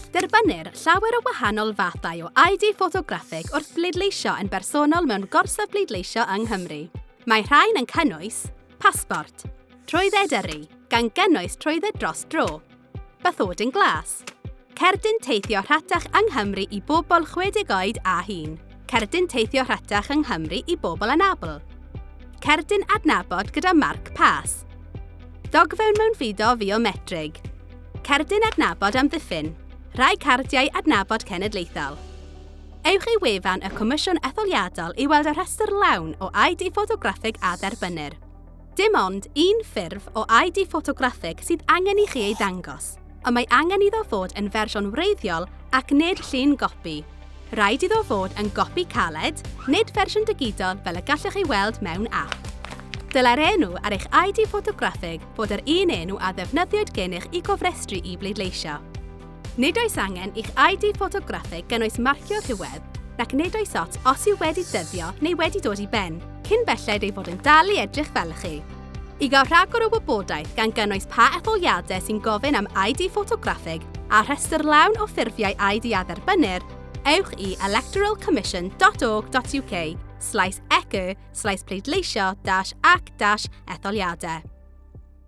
Derbynnir llawer o wahanol fathau o ID ffotograffig wrth bleidleisio yn bersonol mewn gorsaf bleidleisio yng Nghymru. Mae rhain yn cynnwys pasbort, trwydded yrru, gan gynnwys trwydded dros dro, bathodyn glas, Cerdyn teithio rhatach yng Nghymru i bobl 60 oed a hŷn. Cerdyn teithio rhatach yng Nghymru i bobl anabl. Cerdyn adnabod gyda marc pas. Ddogfewn mewn fido fiometrig. Cerdyn adnabod amddiffyn. Rhai cardiau adnabod cenedlaethol. Ewch i wefan y Comisiwn Etholiadol i weld y rhestr lawn o ID ffotograffig a dderbynnir. Dim ond un ffurf o ID ffotograffig sydd angen i chi ei ddangos, ond mae angen iddo fod yn fersiwn wreiddiol ac nid llun gopi. Rhaid iddo fod yn gopi caled, nid fersiwn digidol fel y gallwch ei weld mewn ap. Dylai'r enw ar eich ID ffotograffig fod yr un enw a ddefnyddiwyd gennych i gofrestru i bleidleisio. Nid oes angen i'ch ID ffotograffig gynnwys marcio rhywedd, nac nid oes ot os yw wedi dyddio neu wedi dod i ben, cyn belled ei fod yn dal i edrych fel chi. I gael rhagor o wybodaeth gan gynnwys pa etholiadau sy'n gofyn am ID ffotograffig a rhestr lawn o ffurfiau ID a dderbynnir, ewch i electoralcommission.org.uk slaes ecu slaes pleidleisio dash ac dash etholiadau.